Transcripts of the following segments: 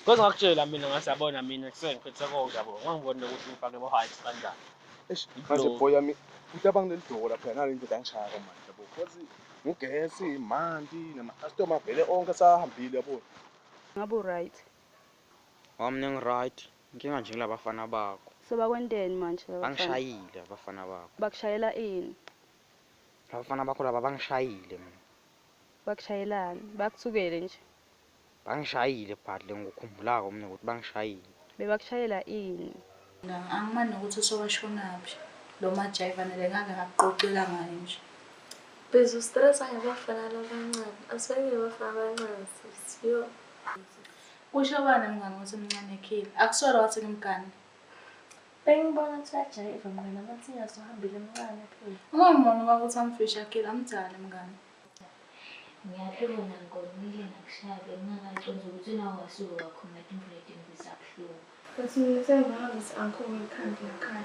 Because ngakutshela mina ngathi yabona mina kusengiphethe konke yabo. Ngangibona ukuthi ngifake bo heights kanjani. Eish, manje boy yami uthi abangineli doko lapha nalo into angishaya kamanje yabo. Because ngugesi, manti nama customer vele onke sahambile yabo. Ngabu right. Wami ningi right. Inkinga nje ngilabafana bakho. So bakwenteni manje labafana? Bangishayile abafana bakho. Bakushayela ini? Abafana bakho laba bangishayile mina. Bakushayelani? Bakuthukele nje. Bangishayile but lengikukhumbulako mina ukuthi bangishayile. Bebakushayela ini? Angimani nokuthi usewashonaphi lo majayiva nale ngake ngakuqoqela ngayo nje. Biza ustresa ngabafana labancane. Asibeke abafana abancane sisi. Yo. Kusho bani mngane ukuthi mncane khile? Akusolo wathi ngimgane. Bengibona ukuthi uyajayiva mngane amathinya sohambile mncane phela. Uma ngibona ukuthi amfisha khile amdala mngane. Ngiyaphila wena ngigonile ngakushaya bengingakaconsi ukuthi nawe wasuke wakhumula imvula edingisa buhlungu. But mina sengihambe si-uncle wekhanda lakhaya.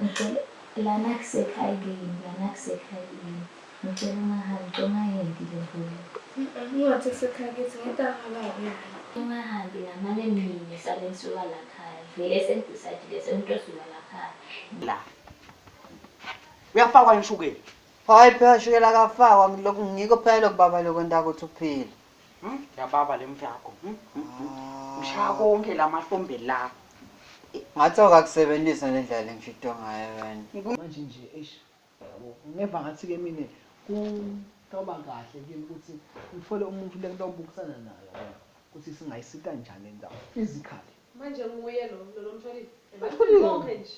Lana kusekhaya kini, lana kusekhaya kini. Ngicela ungahambi, ngicela ungayendi le mvula. Ungathi kusekhaya kithi ngeke angababi naye. Ungahambi ngamane mina sale ngisuka lakhaya. Vele sengidecidile sengithi osuka lakhaya. La. Uyafakwa yini ushukela? Hayi phela shukela kafakwa lokhu ngiko phela lokhu baba lokho ntakuthi uphile. Hmm? Yababa le mfyakho. Hmm? Hmm? Ah. Ngishaya konke la mahlombe la. Ngathi awukakusebenzisa le ndlela lengishito ngayo wena. Manje nje eish. Ngeva ngathi ke mina kutoba kahle kimi ukuthi ngithole umuntu lengitobukisana naye yabona ukuthi singayisita njani indawo physically. Manje nguye lo lo mshwalile. Bathulile konke nje.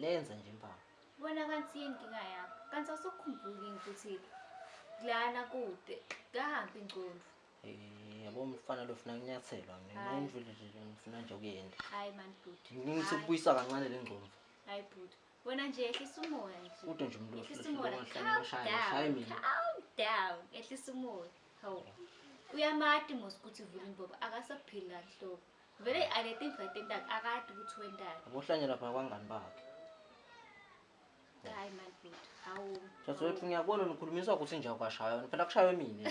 Lenza nje impama. Bona kanti inkinga yakho. Kanti awusukhumbuli ukuthi lana kude kahambi ingcondvo. Eh, yabo umfana lo ufuna kunyathelwa mina Hayi. indlu le nje ngifuna nje ukuyenda. Hayi man bhuti. Ngithi Hayi. ukubuyisa kancane le ngcondvo. Hayi bhuti. Wena nje ehlisa umoya nje. Ude nje umuntu Ehlisa ohlulekile umoya. ongahlala Calm emashaya, down, ashaye mina. Calm down. Ehlisa umoya. Hawu. Uyamati mos ukuthi vula imbobo akasaphili kahle hlobo. Vele aketinva etentak akati kutsi wentani. Abohlanya lapha kwangani bakhe. Hayi man bhuti. Hawu. Saswethu ngiyabona nikhulumiswa kuthi nje awukashaywa. Phela kushaywe mina.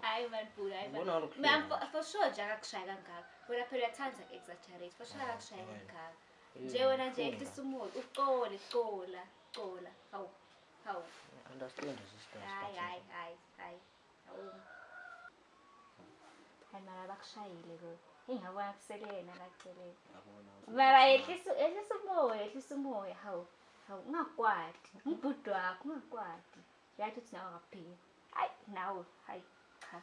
Hayi man bhuti, hayi man. Man for sure nje akakushaya kangaka. Wena phela uyathanda exaggerate. For sure akakushaya kangaka. Nje wena nje ehlisa umoya, uxole, xola, xola. Hawu. Hawu. Understand sister. Hayi hayi hayi. Hayi mara bakushayile lokho. Ingabona kusele yena kaceleni. Mara yehlisa yehlisa umoya, yehlisa umoya. Hawu. Hawu ungakwati. Umbhudu wakho ungakwati. Yathi uthi nawe akaphiki. Hayi nawe. Hayi cha.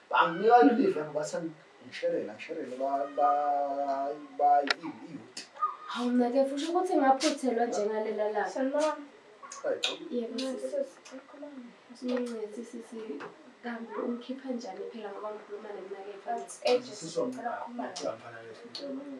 Banginika leli vemba bathi ngisherela ngisherele bayiyuti. Hawu mnake fusha ukuthi ngaphuthelwa njengalela la. Sanibona. Yebo sisi sisi kambe umkhipha njani phela ngoba ngikhuluma nemnake mfana. Sisi ngicela ukukhuluma naye.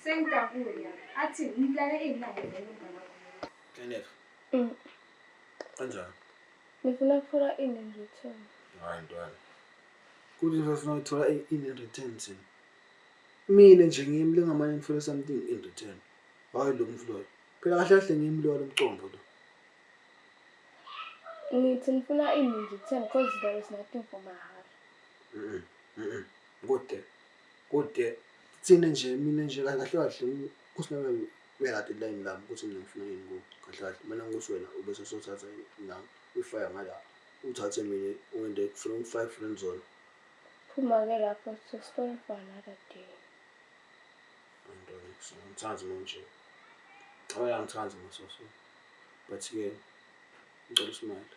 Sengidabula athi ngimlale izinqango zenu mama. Kenneth. Mm. Kanjani? Ngifuna ukuthola ini in return. Hayi ntwana. Kuthi ngifuna ukuthola ini in return thina. Mina nje ngimi lengamane ngifuna something in return. Hayi lo mfloyo. Phela kahle kahle ngimi lo lomcombo lo. Ngithi ngifuna ini in return because there is nothing for mahara. Mhm. Mhm. Kodwa Kude kuthina nje mina nje kahle kahle uSinalo bekade elayini lami ukuthi mina ngifuna yini kuwe kahle kahle mina ngithi wena ubese sothatha nami uyifaya ngala uthathe mina ungende kufuna ungifake friend zone phuma-ke lapho to story for another day antonex ngimthandi manje cabela ngithandi masoso but-ke ngicela usimile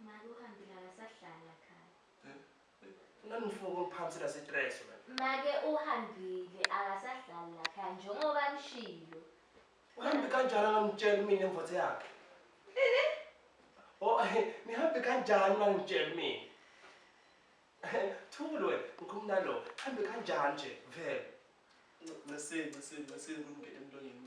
Mali uhambe lala sahlala khaya. Unani ngifuna ukumphamisela sitress wena. Make uhambile akasahlali la khaya njengoba nishilo. Uhambe kanjani angamtshela mina imvothe yakhe? Ini? Oh, nihambe kanjani mangitshela mina? Thulu wena, ngikhumna lo. Hambe kanjani nje vele? Ncese, ncese, ncese ngumngene emlonyeni.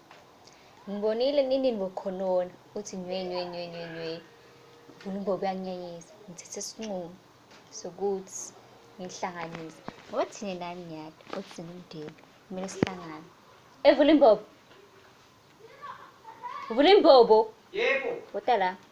ngibonile nini ngokhonona uthi nywe nywe nywe nywe nywe uNgombe uyanginyanyisa ngithethe isinqumo sokuthi ngihlanganise ngoba thina nani nyati othi singumndeni kumele sihlangane evula imbobo vula imbobo yebo wota la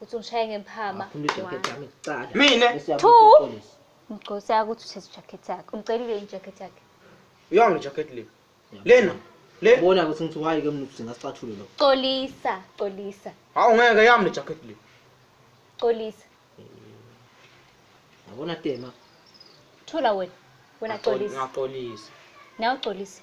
Uthi ungishaye ngempama. Funa ijacket One. yami kuqala. Mina? Bese uyabuya Two. uyoxolisa. Mgcosi akuthi uthesa ijacket yakhe. Umcelile yini ijacket yakhe? Yona jacket le. Lena. Le. Ubona ukuthi ngithi wayi ke mntu singasicathulo lo. Xolisa, xolisa, Hawu ngeke yami le jacket le. xolisa. Yabona tema. Thola wena. Wena xolisa. Ngaxolisa. Nawe xolisa.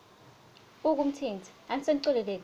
Buka umthinzi, angisenixoleleni.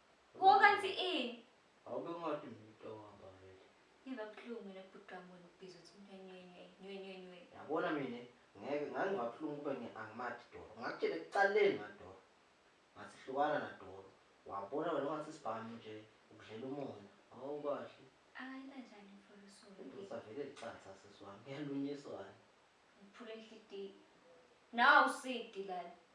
Wo kanti i. Awube ngathi umuntu ohamba vele. Ngizwa ubuhlungu mina bhuti wami wena ubhizi uthi nywenywenywe nywenywenywe. Yabona mina ngeke ngangizwa ubuhlungu kube ngiangimathi doro. Ngakutshela ekuqaleni ngadoro. Ngathi hlukana nadoro. Wabona wena ungathi sibhamu nje ukudlela umoya. Hawu kahle. Akayila njani mfolusulu. Indoda vele licatha sisi wami. Yalunyiswana. Ngiphule inhlitiyo. Nawu usidi lana.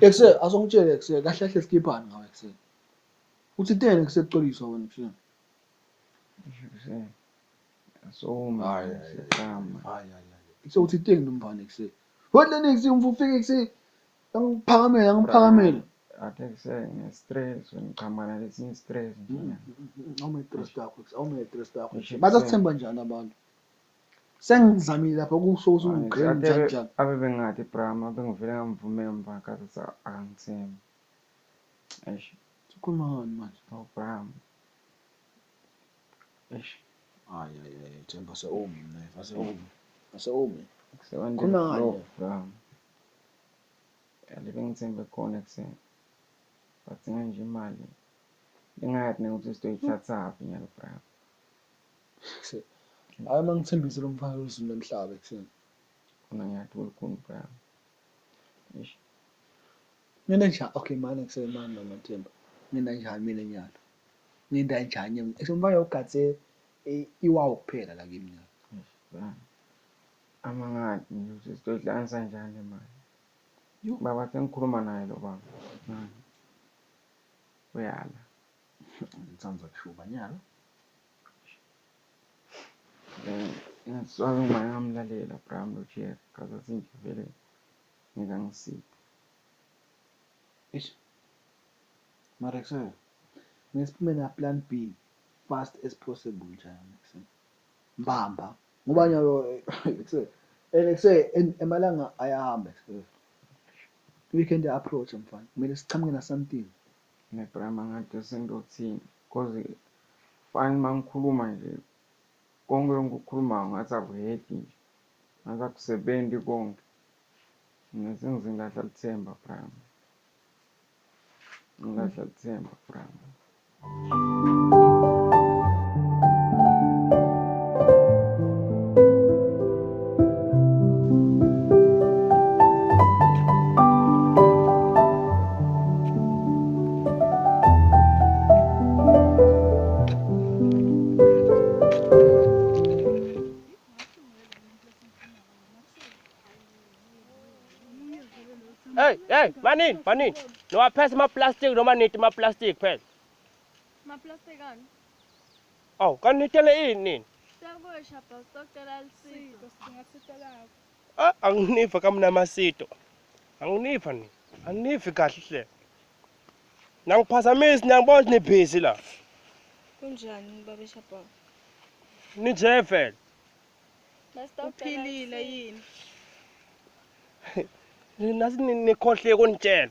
Ekuse asongitshele ekuse kahle kahle sikhiphani ngawe ekuse. Uthi tena ekuse kuxoliswa wena ekuse. Asoma. Hayi hayi hayi. Ekuse uthi tena nomfana ekuse. Wena niksi umfufike ekuse. Angiphakamela angiphakamela. Athe kuse ngestress ngiqhamuka nalesinye stress nje. Awume stress yakho ekuse awume stress yakho. Bazakuthemba njani abantu? sengizamile lapha kusho ukuthi ungigqele njani njani abe bengathi brama bengivele ngamvumela mva kathi sa angithembi eish sikhuluma ngani manje no oh, brama eish ay ay ay themba se umi naye fase umi fase umi khona ngani brama yale bengithembe khona kuseni badzinga nje imali bengayathi nekuthi sitoyithathaphi nyalo brama Hayi uma ngithembise lo mfana uZulu nomhlaba ekuseni. Khona ngiyathi ulukhulu Brian. Eish. Mina nje okay manje kusemani noma Themba. Mina nje mina nyalo. Nginda njani mina. Esho mfana ugathe iwawo kuphela la kimi nyalo. Brian. Amangani nje sizodlanisa njani manje. Baba sengikhuluma naye lo baba. Uyala. Ngithanda kushuba nyalo. Ngizwanga uma ngamlalela Bram lo Jerry kaze azinje vele ngeke angisiphe. Ish. Mara kusasa ngesiphume na plan B fast as possible njalo next time. Mbamba. Ngoba nyawo kusasa and kusasa emalanga ayahamba kusasa. Weekend approach mfana. Kumele sichamuke na something. Ne Bram angathi sendothini. Cause fani uma ngikhuluma nje konke engikukhulumayo ngathi akuheki nje ngathi akusebenzi konke mina sengize ngilahla lithemba prime ngilahla lithemba prime Hey, hey, manini, manini. Niwaphese ama-plastic noma niti ama-plastic phela. Maplastic ani? Aw, kanti nitele ini nini? Sekusha bro, sicela lisiko. Sidinga sito lakho. Ah, anginiva kamnama sito. Anginiva ni. Anginivi kahle hle. Nangiphazamisi niyangibona ukuthi nibhizi la. Kunjani baba Shaba? Ninje vele. Uphilile yini? Nasi nikhohle kunitshela.